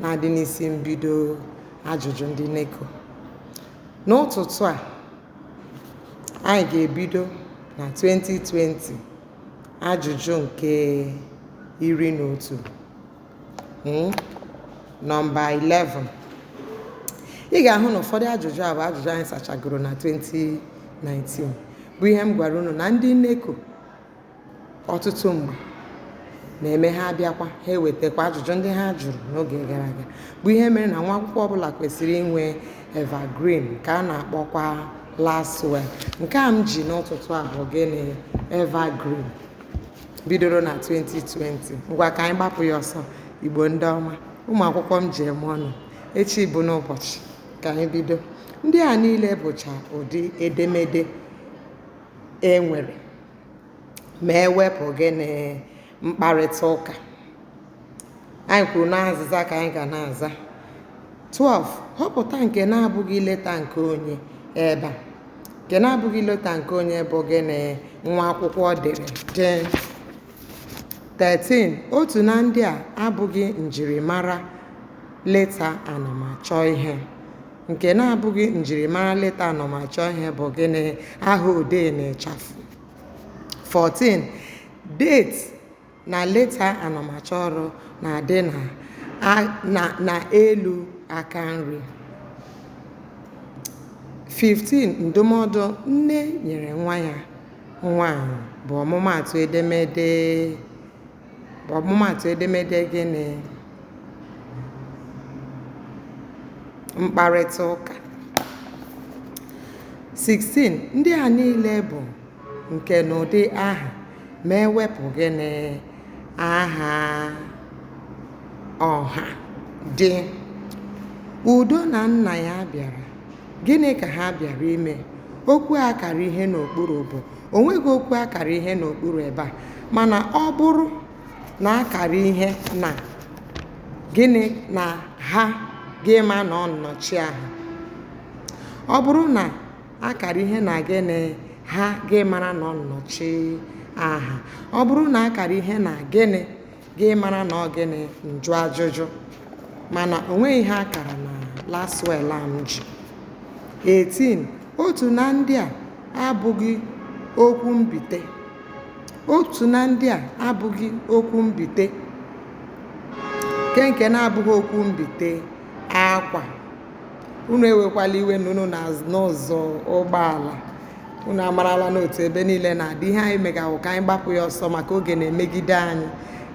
na-adị n'isi mbido ajụjụ ndị NECO n'ụtụtụ a anyị ga-ebido na 2020 ajụjụ nke iri na otu hmm? nọmba 11 ị ga-ahụ na ụfọdụ ajụjụ a bụ ajụjụ anyị sachagoro na 2019 bụ ihe m gwara unu na ndị NECO ọtụtụ mgbe na-eme ha abịakwa ha ewetakwa ajụjụ ndị ha jụrụ n'oge gara aga bụ ihe mere na nwa akwụkwọ ọbụla kwesịrị inwe evergreen nke a na-akpọkwa laswel nke a m ji n'ụtụtụ a bụ gịnị evergreen bidoro na 2020 ngwa ka anyị gbapụ ya ọsọ igbo ndị ọma ụmụ akwụkwọ m ji eme ọnụ echi bụ n'ụbọchị ka anyị bido ndị a niile bụcha ụdị edemede e nwere ma ewepụ gịnị mkparịta ụka anyị kwuru na azịza ka anyị ga na-aza 12 họpụta nke na-abụghị leta nke onye ebe a nke na-abụghị leta nke onye bụ gịnị nwa akwụkwọ dere jee 13 otu na ndị a abụghị njirimara leta anamachọ ihe nke na-abụghị njirimara leta anamachọ ihe bụ gịnị aha odee na ịchafụ 14 date na leta anamachọ ọrụ na-adị na a- na na elu aka nri 15 ndụmọdụ nne nyere nwa ya nwaanyị bụ ọmụmaatụ edemede bụ ọmụmaatụ edemede gịnị? Mkparịta ụka. 16 ndị a niile bụ nkenụdị aha ma ewepụ gịnị aha ọha dị udo na nna ya bịara Gịnị ka ha bịara ime? Okwu a kara ihe n'okpuru bụ o nweghị okwu a kara ihe n'okpuru ebe a mana ọ bụrụ na a kara ihe na gịnị na ha gị ma na ọ nnọchi aha ọ bụrụ na a kara ihe na gịnị ha gị mara na ọ nnọchi aha ọ bụrụ na a kara ihe na gịnị gị mara na ọ gịnị njụ ajụjụ mana o nweghị ihe a kara na laswel a m ji 18 otu na ndị a abụghị okwu mbite otu na ndị a abụghị okwu mbite nke nke na-abụghị okwu mbite akwa unu ewekwala iwe na unu na-anụ ụzụ ụgbọala unu amarala n'otu ebe niile na-adị ihe anyị mega wụ ka anyị gbapụ ya ọsọ maka oge na-emegide anyị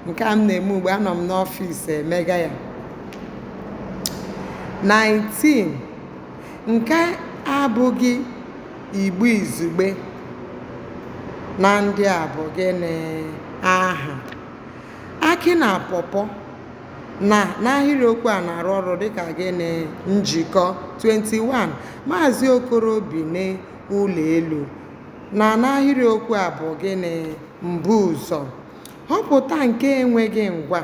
nke a m na-eme ugbu a anọ m n'ọfịs emega ya 19 nke abụghị igbo izugbe na ndị a bụ gịnị aha akị na pọpọ na n'ahịrịokwu a na-arụ ọrụ dịka gịnị njikọ 21 maazị okoro bi n'ụlọ elu na n'ahịrịokwu a bụ gịnị mbuụzọ họpụta nke enweghị ngwa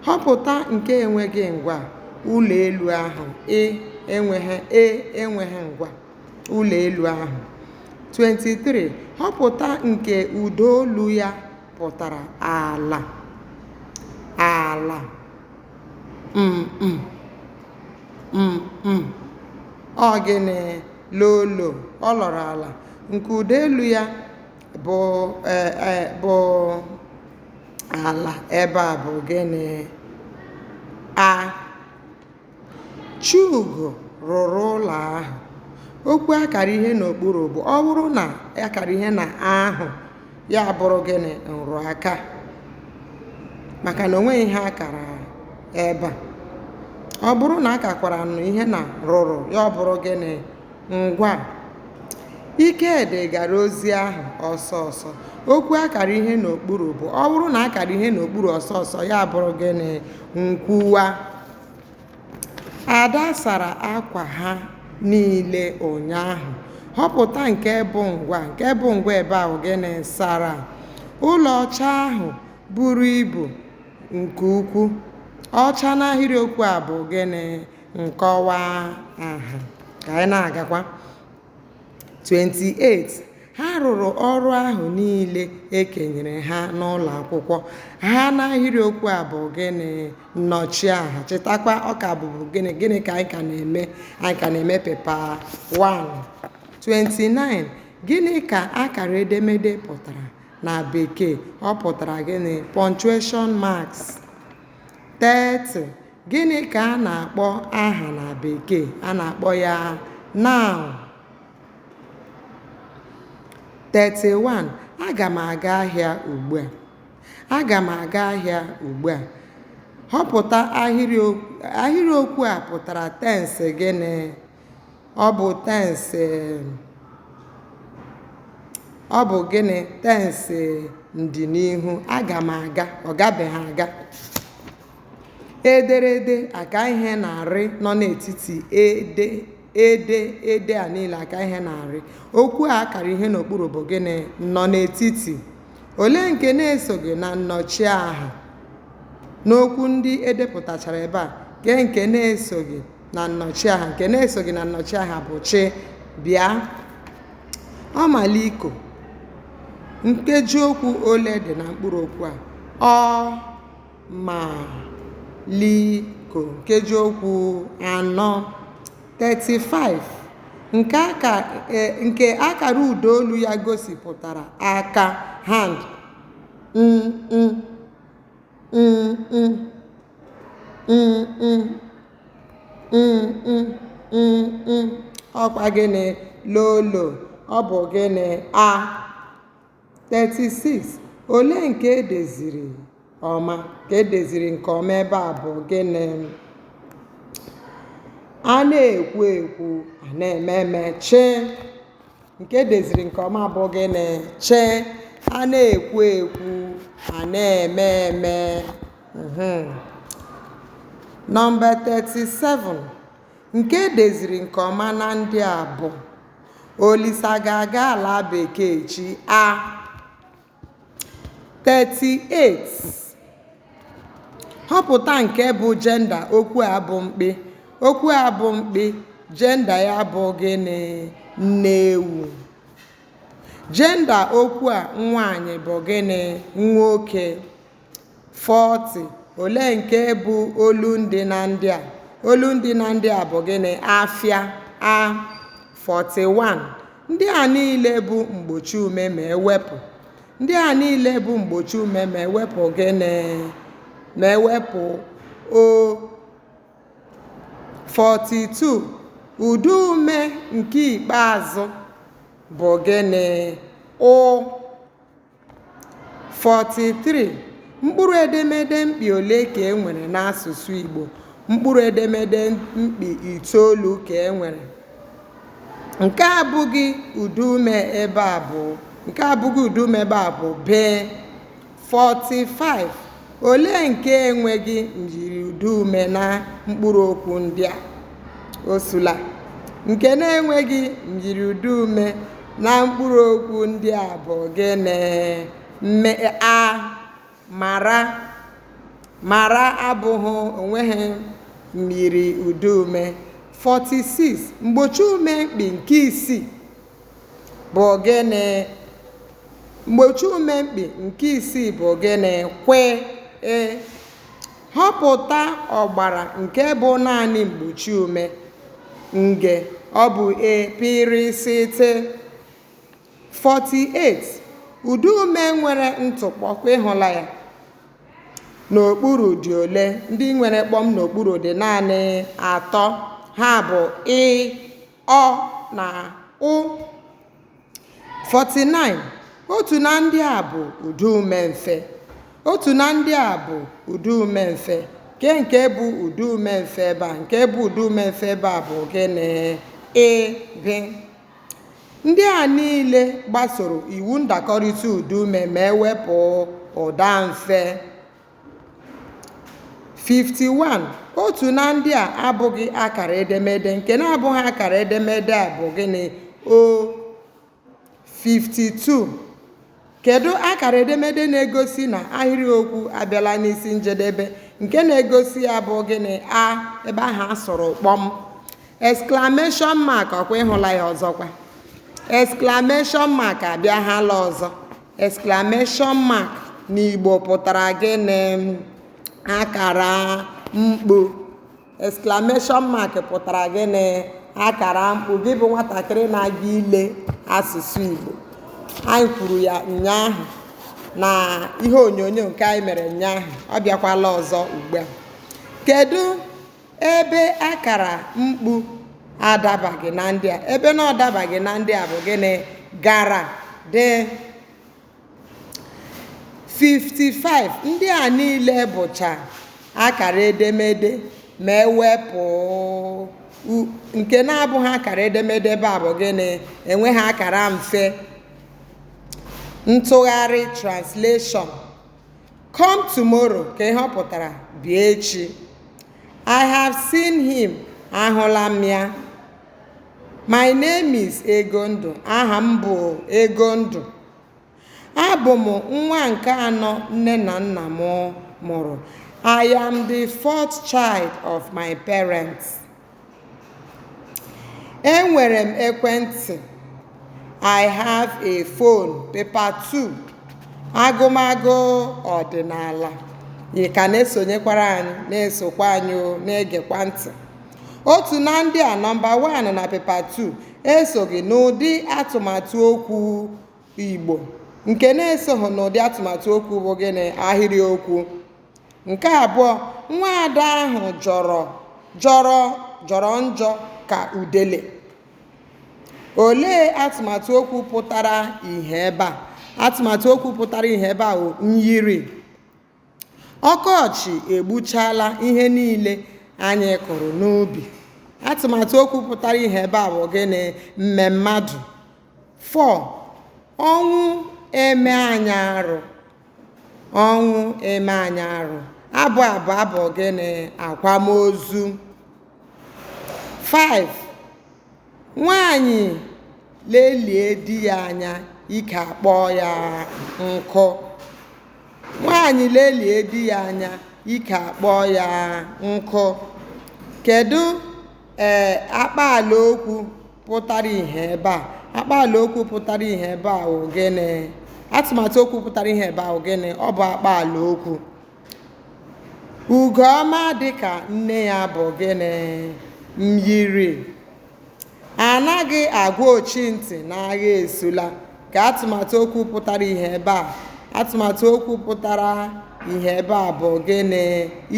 họpụta nke enweghị ngwa ụlọ elu ahụ e enweghị ngwa ụlọ elu ahụ 23 họpụta nke ụda olu ya pụtara ala ala mm, mm, mm, ọ gịnị lolo ọ lọrọ ala nke ụda elu ya bụ e, e, bụ ala ebe a bụ gịnị a Chugo rụrụ ụlọ ahụ. Okwu a kara ihe n'okpuru bụ ọ bụrụ na a kara ihe na ahụ ya abụrụ gịnị nrụaka maka na o nweghị ihe a kara ebe a. Ọ bụrụ na a kakwara nụ ihe na rụrụ ya ọ bụrụ gịnị ngwa. Ikedi gara ozi ahụ ọsọ ọsọ. Okwu a kara ihe n'okpuru bụ ọ bụrụ na a kara ihe n'okpuru ọsọ ọsọ ya abụrụ gịnị nkwuwa. Ada sara akwa ha niile ụnyaahụ. Họpụta nke bụ ngwa. Nke bụ ngwa ebe a bụ gịnị sara? Ụlọ ọcha ahụ buru ibu nke ukwu. Ọcha n'ahịrịokwu a bụ gịnị? Nkọwa aha. Ka anyị na-agakwa. 28 ha rụrụ ọrụ ahụ niile e kenyere ha n'ụlọ akwụkwọ ha n'ahịrịokwu a bụ gịnị nnọchiaha chetakwa ọ ka bụbu gịnị gịnị ka anyị ka na-eme anyị ka na-eme pepa 1 29 gịnị ka akara edemede pụtara na bekee ọ pụtara gịnị punctuation marks 30. Gịnị ka a na-akpọ aha na Bekee? A na-akpọ ya noun. 31. Aga m aga ahịa ugbu a. Aga m aga ahịa ugbu a. Họpụta ahịrịokwu a pụtara tensị gịnị? Ọ bụ tensị ọ bụ gịnị tensị ndịnihu aga m aga ọ gabeghị aga ederede aka ihe na rị nọ n'etiti ede ede ede a niile aka ihe na rị okwu a akara ihe n'okpuru bụ gịnị nnọnetiti olee nke na-esoghị na nnọchiaha n'okwu ndị edepụtachara ebe a kee nke na-esoghị na nnọchiaha nke na-esoghị na nnọchiaha bụ chị bịa ọmaliko nkeji okwu ole dị na mkpụrụ okwu a ọ ma liko nkeji okwu anọ 35 nke aka e- nke akara ụdaolu ya gosipụtara aka hand ọkwa gịnị lolo ọ bụ gịnị a 36 olee nke edeziri ọma nke edeziri nke ọma ebe a bụ gịnị a na-ekwu ekwu a na-eme eme chị nke edeziri nke ọma bụ gịnị chị a na-ekwu ekwu a na-eme eme mhm. nọmba 37 nke edeziri nke ọma na ndị a bụ olisa ga-aga ala bekee echi a 38, Họpụta nke bụ jenda okwu a bụ mkpị. Okwu a bụ mkpị, jenda ya bụ gịnị? Nne ewu. Jenda okwu a nwaanyị bụ gịnị? Nwoke. 40, Olee nke bụ olundị na ndị a? Olundị na ndị a bụ gịnị? Afịa a 41. Ndị a niile bụ mgbochiume ma ewepụ. Ndị a niile bụ mgbochiume ma ewepụ gịnị? Ma ewepụ o 42. Ụdaume nke ikpeazụ bụ gịnị? Ụ 43, Mkpụrụedemede mkpị ole ka e nwere n'asụsụ Igbo? Mkpụrụedemede mkpị itoolu ka e nwere. Nke abụghị ụdaume ebe a bụ bee. 45, Olee nke enweghị myiriụdaume na mkpụrụokwu ndị a? Osula. Nke na-enweghị myiriụdaume na mkpụrụokwu ndị a bụ gịnị? Mme a mara mara abụghị o nweghị myiriụdaume. 46, Mgbochiume mkpi nke isii. bụ gịnị mgbochiume mkpi nke isii bụ gịnị kwị họpụta ọgbara nke bụ naanị mgbochiume nge ọ bụ A pị rị sị tị 48 ụdaume nwere ntụkpọ ọkwa ịhụla ya n'okpuru dị ole ndị nwere kpọm n'okpuru dị naanị atọ ha bụ ị ọ na ụ 49 otu na ndị a bụ ụdaume mfe otu na ndị a bụ ụdaume mfe nke nke bụ ụdaume mfe ebe a nke bụ ụdaume mfe ebe a bụ gịnị ị B ndị a niile gbasoro iwu ndakọrịta ụdaume ma e wepụ ụda mfe 51. Otu na ndị a abụghị akara edemede. Nke na-abụghị akara edemede a bụ gịnị? O. 52. Kedụ akara edemede na-egosi na ahịrịokwu abịala n'isi njedebe? Nke na-egosi ya bụ gịnị? A. Ebe ahụ a sụrụ kpọm. Exclamation mark ọkwa ịhụla ya ọzọkwa. Exclamation mark abịaghala ọzọ. Exclamation mark n'Igbo pụtara gịnị? Akara mkpu. Exclamation mark pụtara gịnị? Akara mkpu. Gị bụ nwatakịrị na-aga ile asụsụ Igbo. Anyị kwuru ya ụnyaahụ na ihe onyonyo nke anyị mere ụnyaahụ. Ọ bịakwala ọzọ ugbu a. Kedu Ebe akara mkpu adabaghị na ndị a ebe na ọ dabaghị na ndị a bụ gịnị gara D 55 ndị a niile bụcha akara edemede ma e wepụ u- nke na-abụghị akara edemede ebe a bụ gịnị enweghị akara mfe ntụgharị translation Come tomorrow ka ihe ọ pụtara bịa echi. I have seen him ahụla m ya. My name is Egondụ aha m bụ Egondụ. Abụ m nwa nke anọ nne na nna m mụrụ. I am the fourth child of my parents. Enwere m ekwentị. I have a phone. Paper 2. Agụmagụ ọdịnala. Ị ka na-esonyekwara anyị na-esokwa anyị na-egekwa ntị. Otu na ndị a nọmba 1 na paper 2 esoghị n'ụdị atụmatụ okwu Igbo nke na-esoghị n'ụdị atụmatụ okwu bụ gịnị ahịrịokwu. Nke abụọ, nwa ada ahụ jọrọ jọrọ njọ ka udele. Olee atụmatụ okwu pụtara ihe ebe a? Atụmatụ okwu pụtara ihe ebe a bụ myiri. Ọkọchị egbuchaala ihe niile anyị kụrụ n'ubi. Atụmatụ okwu pụtara ihe ebe a bụ gịnị? Mmemmadụ. 4, Ọnwụ eme anyị arụ. ọnwụ eme anyị arụ abụ a bụ abụ gịnị akwamozu 5 nwaanyị lelie di ya anya ike akpọọ ya nkụ nwaanyị lelie di ya anya ike akpọọ ya nkụ kedu ee akpaala okwu pụtara ihe ebe a akpaala okwu pụtara ihe ebe a wụ gịnị atụmatụ okwu pụtara ihe ebe a wụ gịnị ọ bụ akpaala okwu ugoọma dị ka nne ya bụ gịnị myiri anaghị agwa ochi ntị na agha esula ka atụmatụ okwu pụtara ihe ebe a atụmatụ okwu pụtara ihe ebe a bụ gịnị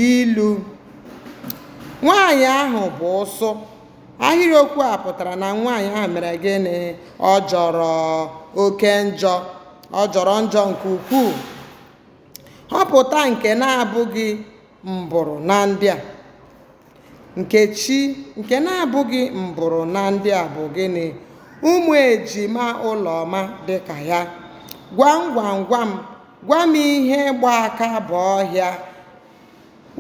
ilu nwaanyị ahụ bụ ụsụ ahịrịokwu a pụtara na nwaanyị ahụ mere gịnị ọ jọrọ oke njọ ọ jọrọ njọ nke ukwuu họpụta nke na-abụghị mbụrụ na ndị a nkechi nke na-abụghị mbụrụ na ndị a bụ gịnị ụmụ ejima ụlọma dị ka ya gwam gwam gwam gwa m ihe gba aka baa ọhịa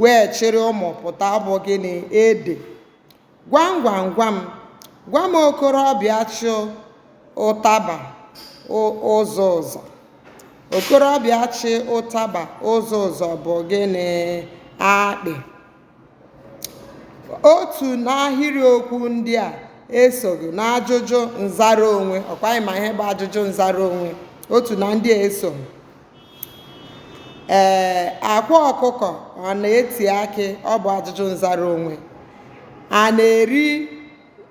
wee chịrị ụmụ pụta ọ bụ gịnị ede Gwam gwam gwam gwa m okorobịa chị ụtaba ụzọ ụzọ. Okorobịa chị ụtaba ụzọ ụzọ bụ gịnị? Akpị. Otu n'ahịrịokwu ndị a esoghị n'ajụjụ nzara onwe, ọ kwa anyị ma ihe bụ ajụjụ nzara onwe, otu na ndị a esoghị. ee akwa ọkụkọ ọ na-eti akị ọ bụ ajụjụ nzara onwe a na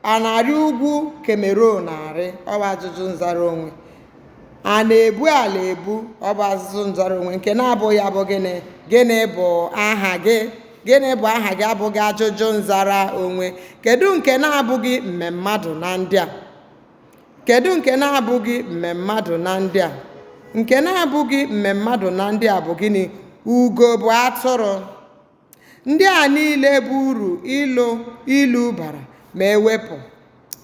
a na-arị ugwu kemerun arị ọ bụ ajụjụ nzara onwe a na-ebu ala ebu ọ bụ ajụjụ nzara onwe nke na-abụghị ya bụ gịnị gịnị bụ aha gị gịnị bụ aha gị abụghị ajụjụ nzara onwe kedu nke na-abụghị mmemmadụ na ndị a Kedụ nke na-abụghị mmemmadụ na ndị a? Nke na-abụghị mmemmadụ na ndị a bụ gịnị? Ugo bụ atụrụ. Ndị a niile bụ uru ịlụ ilu bara ma ewepụ.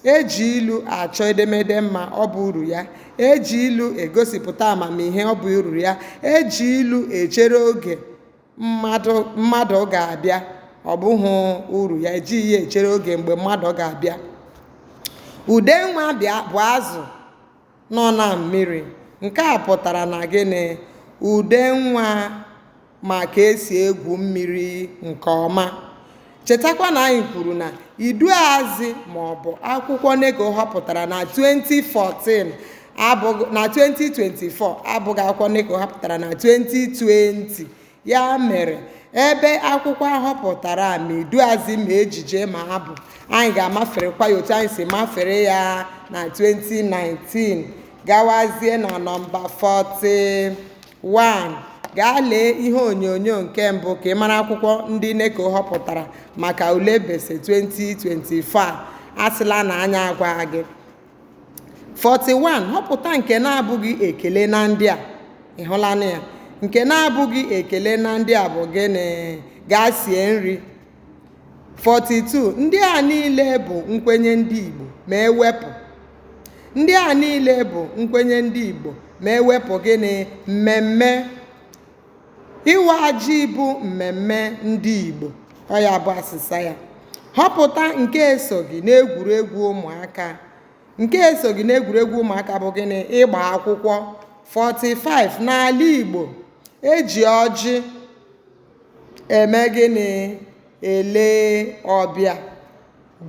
E ji ilu achọ edemede mma, ọ bụ uru ya. E ji ilu egosipụta amamihe, ọ bụ uru ya. E ji ilu echere oge, mmadụ ga-abịa ọ bụghị uru ya ejighị ya echere oge mgbe mmadụ ga-abịa udenwa bụ azụ nọ na mmiri nke a pụtara na gịnị udenwa ma ka esi egwu mmiri nke ọma Chetakwa na anyị kwuru na iduuazị maọbụ akwụkwọ NECO họpụtara na 2014 na 2024 abụghị akwụkwọ NECO họpụtara na 2020 ya mere ebe akwụkwọ ahọpụtara a ma iduuazị ma ejije ma abụ anyị ga-amaferekwa ya otu anyị si mafere ya na 2019 gawazie na nọmba 40 1. Gaa lee ihe onyonyo nke mbụ ka ị mara akwụkwọ ndị NECO họpụtara maka ule BECE 2024 asịla na anyị agwaghị gị. 41. Họpụta nke na-abụghị ekele na ndị a. Ị hụlanụ ya? Nke na-abụghị ekele na ndị a bụ gịnị? Gaa sie nri. 42 ndị a niile bụ nkwenye ndị Igbo ma ewepụ ndị a niile bụ nkwenye ndị Igbo ma ewepụ gịnị mmemme ịwa ji bụ mmemme ndị Igbo ọ ya bụ asịsa ya họpụta nke esoghị n'egwuregwu ụmụaka nke esoghị n'egwuregwu ụmụaka bụ gịnị ịgba akwụkwọ 45 n'ala Igbo eji ọjị eme gịnị ele ọbịa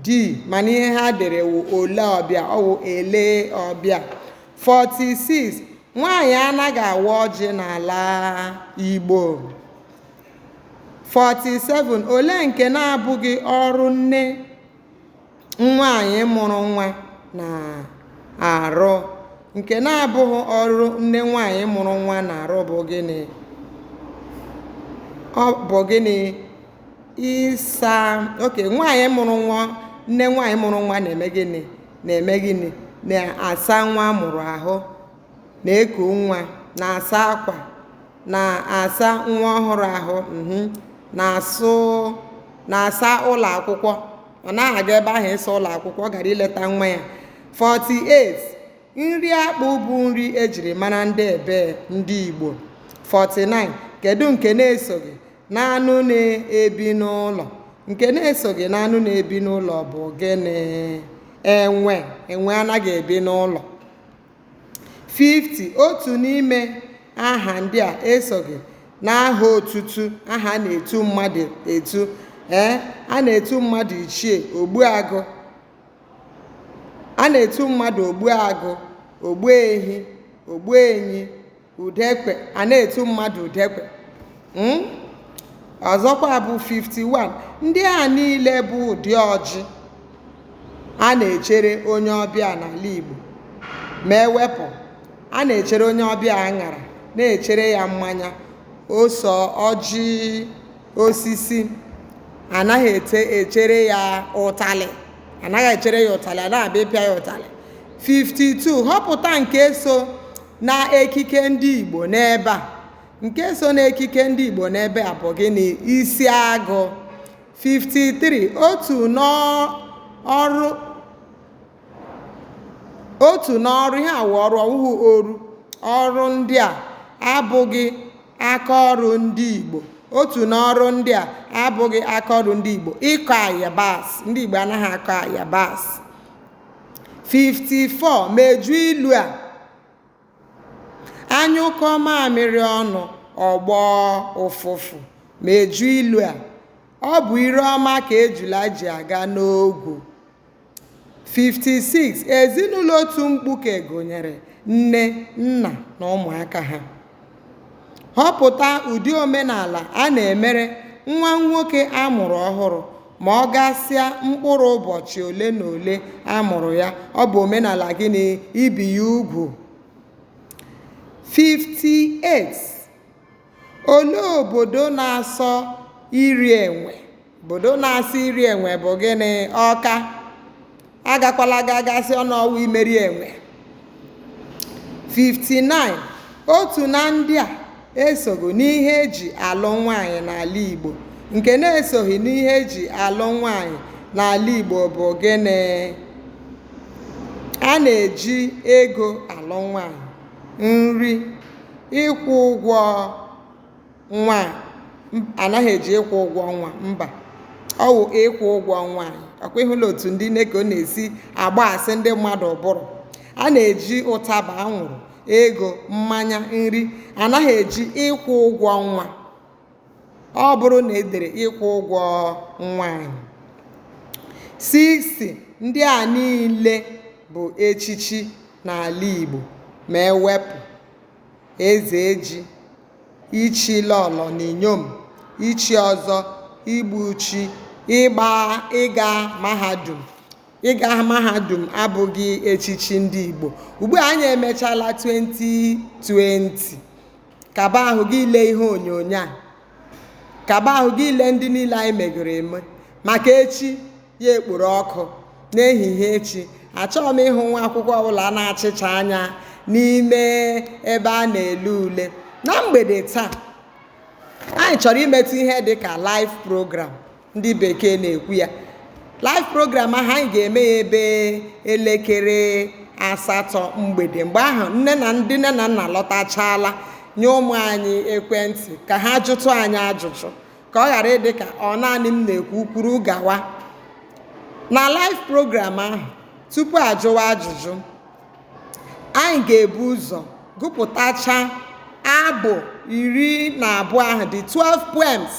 d mana ihe ha dere wụ ole ọbịa ọ wụ ele ọbịa 46 nwaanyị anaghị awa ọjị n'ala igbo 47 olee nke na-abụghị ọrụ nne nwaanyị mụrụ nwa na-arụ nke na-abụghị ọrụ nne nwaanyị mụrụ nwa na-arụ bụ gịnị ọ bụ gịnị ịsa oke nwaanyị mụrụ nwa nne nwaanyị mụrụ nwa na-eme gịnị na-eme gịnị na-asa nwa mụrụ ahụ na-eku nwa na-asa akwa na-asa nwa ọhụrụ ahụ mhm, na-asa ụlọ akwụkwọ ọ naghị aga ebe ahụ ịsa ụlọ akwụkwọ ọ gara ileta nwa ya 48 nri akpụ bụ nri ejiri mara ndị ebe ndị igbo 49 kedu nke na-esoghị n'anụ na-ebi n'ụlọ nke na-esoghị n'anụ na-ebi n'ụlọ bụ gịnị enwe enwe anaghị ebi n'ụlọ 50. Otu n'ime aha ndị a esoghị n'aha otutu aha a na-etu mmadụ etu ee a na-etu mmadụ ichie ogbuagụ a na-etu mmadụ ogbuagụ ogbuehi ogbuenyi udekwe a na-etu mmadụ udekwe hmm? ọzọkwa bụ 51 ndị a niile bụ ụdị ọjị a na-echere onye ọbịa n'ala Igbo ma ewepụ a na-echere onye ọbịa aṅara na-echere ya mmanya ose ọjị osisi anaghị echere ya ụtalị anaghị echere ya ụtalị a na-abịa ịpịa ya ụtalị 52 họpụta nke so n'ekike ndị Igbo n'ebe a nke so n'ekike ndị Igbo n'ebe a bụ gịnị isi agụ 53 otu n'ọrụ ihe a wụ ọrụ ọ wụhụ oru ọrụ ndị a abụghị aka ọrụ ndị Igbo otu n'ọrụ ndị a abụghị aka ọrụ ndị Igbo ịkọ ayabas ndị Igbo anaghị akọ ayabas 54 mejuo ilu a a nyụkọọ mamịrị ọnụ ọ gbọọ ụfụfụ mejuo ilu a ọ bụ ire ọma ka ejula ji aga n'ogwu 56 ezinụlọ otu mkpuke gụnyere nne nna na ụmụaka ha Họpụta ụdị omenala a na-emere nwa nwoke a mụrụ ọhụrụ ma ọ gasịa mkpụrụ ụbọchị ole na ole a mụrụ ya. Ọ bụ omenala gịnị? Ibi ya ugwu. 58. Olee obodo na-asọ iri enwe? Obodo na-asọ iri enwe bụ gịnị? Ọka. Agakwala gaa gaa sị na ọ wụ Imerienwe. 59. Otu na ndị a esoghị n'ihe eji alụ nwaanyị n'ala Igbo. Nke na-esoghị n'ihe eji alụ nwaanyị n'ala Igbo bụ gịnị? A na-eji ego alụ nwaanyị, nri, ịkwụ ụgwọ nwa a m- anaghị eji ịkwụ ụgwọ ọnwa mba ọ wụ ịkwụ ụgwọ nwaanyị ọ kwa ịhụla otu ndị NECO na-esi agbasị ndị mmadụ ụbụrụ a na-eji ụtaba anwụrụ ego mmanya nri anaghị eji ịkwụ ụgwọ ọnwa ọ bụrụ na e dere ịkwụ ụgwọ nwaanyị 60 ndị a niile bụ echichi n'ala Igbo ma ewepụ ezeji, ichi lọlọ na inyom, ichi ọzọ, igbu ichi, ịgba ịga mahadum. Ịga mahadum abụghị echichi ndị Igbo. Ugbu a anyị emechala 2020. Kaba ahụ gị lee ihe onyonyo a. Kaba ahụ gị lee ndị niile anyị megoro eme maka echi. ya ekporo ọkụ n'ehihie echi achọghị m ịhụ nwa akwụkwọ ọbụla na-achịcha anya n'ime ebe a na-ele ule na mgbede taa anyị chọrọ imetụ ihe dị ka live program ndị bekee na-ekwu ya live program ahụ anyị ga-eme ya ebe elekere asatọ mgbede mgbe ahụ nne na ndị nne na nna lọtachala nye ụmụ anyị ekwentị ka ha jụtụ anyị ajụjụ ka ọ ghara ịdị ka ọ naanị m na-ekwu kwuru gawa na live program ahụ tupu ajụwa ajụjụ anyị ga-ebu ụzọ gụpụtacha abụ iri na abụọ ahụ the 12 poems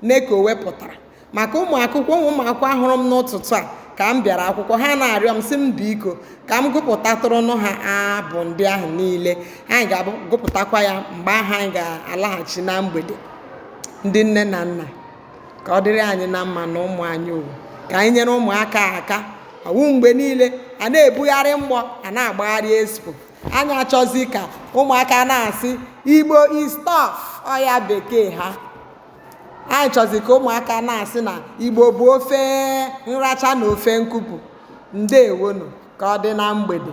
NECO wepụtara maka ụmụ akwụkwọ ụmụ ụmụ akwụkwọ hụrụ m n'ụtụtụ a ka m bịara akwụkwọ ha na-arịọ m sị m biko ka m gụpụtatụrụnụ ha abụ ndị ahụ niile anyị ga-agụpụtakwa ya mgbe ahụ anyị ga-alaghachi na mgbede ndị nne na nna ka ọ dịrị anyị na mma na ụmụ anyị ọ wụ ka anyị nyere ụmụaka aka ọ wụ mgbe niile a na-ebugharị mgbọ a na-agbagharị expo anyị achọzi ka ụmụaka na-asị igbo is tough ọ ya bekee ha anyị chọzi ka ụmụaka na-asị na igbo bụ ofe nracha na ofe nkupu ndeewonụ ka ọ dị na mgbede